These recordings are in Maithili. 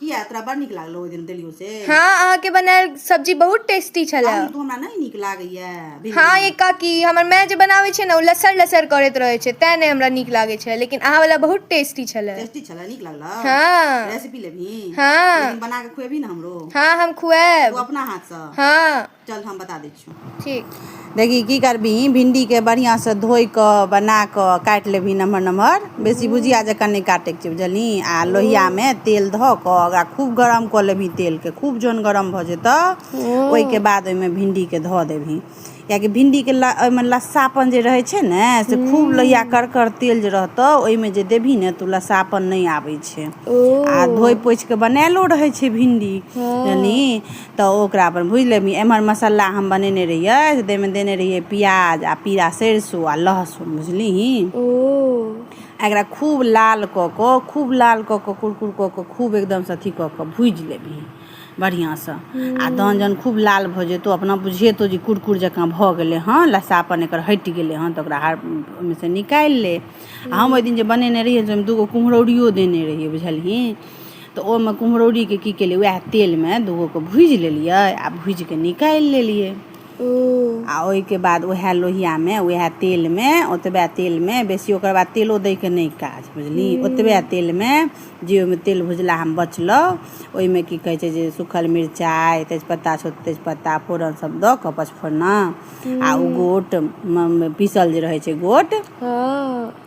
किया तोरा बड़ नीक लागलो ओहि दिन देलियो से हाँ अहाँ के बनायल सब्जी बहुत टेस्टी छले आलू तो हमरा नहीं नीक लागैया भिंडी। हाँ ये काकी हमर माय जे बनाबै छै ने ओ लसर लसर करैत रहै छै तैं नहि हमरा नीक लागै छै लेकिन अहाँ वाला बहुत टेस्टी छले टेस्टी छलै नीक लगलो हाँ रेसिपी लेबही हाँ। लेकिन बना के खुएबही ने हमरो हाँ हम तू खुआएब अपना हाथ से हाँ चल हम बता दै छियौ ठीक देखी की करबही भिंडीके बढ़िआँसँ धोइ कऽ बना कऽ काटि लेबही नमहर नमहर बेसी भुजिया जकाँ नहि काटैके छै बुझलही आ लोहियामे तेल धऽ कऽ ओकरा खूब गरम कऽ लेबही तेलके खूब जहन गरम भऽ जेतऽ ओहिके बाद ओहिमे भिंडीके धऽ देबही किएकि भिंडीके ल ओहिमे लस्सापन जे रहै छै ने से खूब लोहिया करकर तेल जे रहतौ ओहिमे जे देबही ने तऽ ओ लस्सापन नहि आबै छै आ धोइ पोछि कऽ बनायलो रहै छै भिंडी बुझलही तऽ ओकरा अपन भुजि लेबही एम्हर मसाला हम बनेने रहियै से ताहिमे देने रहियै प्याज आ पीरा सरिसो आ लहसुन बुझलिही ओ एकरा खूब लाल कऽ कऽ खूब लाल कऽ कऽ कुरकुर कऽ कऽ खूब एकदमसँ अथी कऽ कऽ भुजि लेबही बढ़िआँसँ आ तहन जहन खूब लाल भऽ जेतौ अपना बुझेतौ जे कुरकुर जकाँ भऽ गेलै हँ लस्सापन एकर हटि गेलै हँ तऽ ओकरा ओहिमेसँ निकालि ले आ हम ओहि दिन जे बनेने रहियै से ओहिमे दूगो कुम्हरौरियो देने रहियै बुझलही तऽ ओहिमे कुम्हरौरीके की केलियै उएह तेलमे दूगोके भूजि लेलियै आ भूजि कऽ निकालि लेलियै आ ओहिके बाद उएह लोहियामे उएह तेलमे ओतबे तेलमे बेसी ओकर बाद तेलो दैके नहि काज बुझली ओतबे तेलमे जे ओहिमे तेल भुजला हम बचलहुँ ओहिमे की कहै छै जे सूखल मिरचाइ तेजपत्ता छोट तेजपत्ता फोरन सब दऽ कऽ पचफोरना आ ओ गोट पीसल जे रहै छै गोट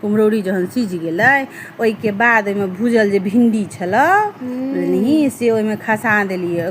कुम्हरौरी जहन सिझि गेलै ओहिके बाद ओहिमे भूजल जे भिण्डी छलऽ बुझलिही से ओहिमे खसा देलिए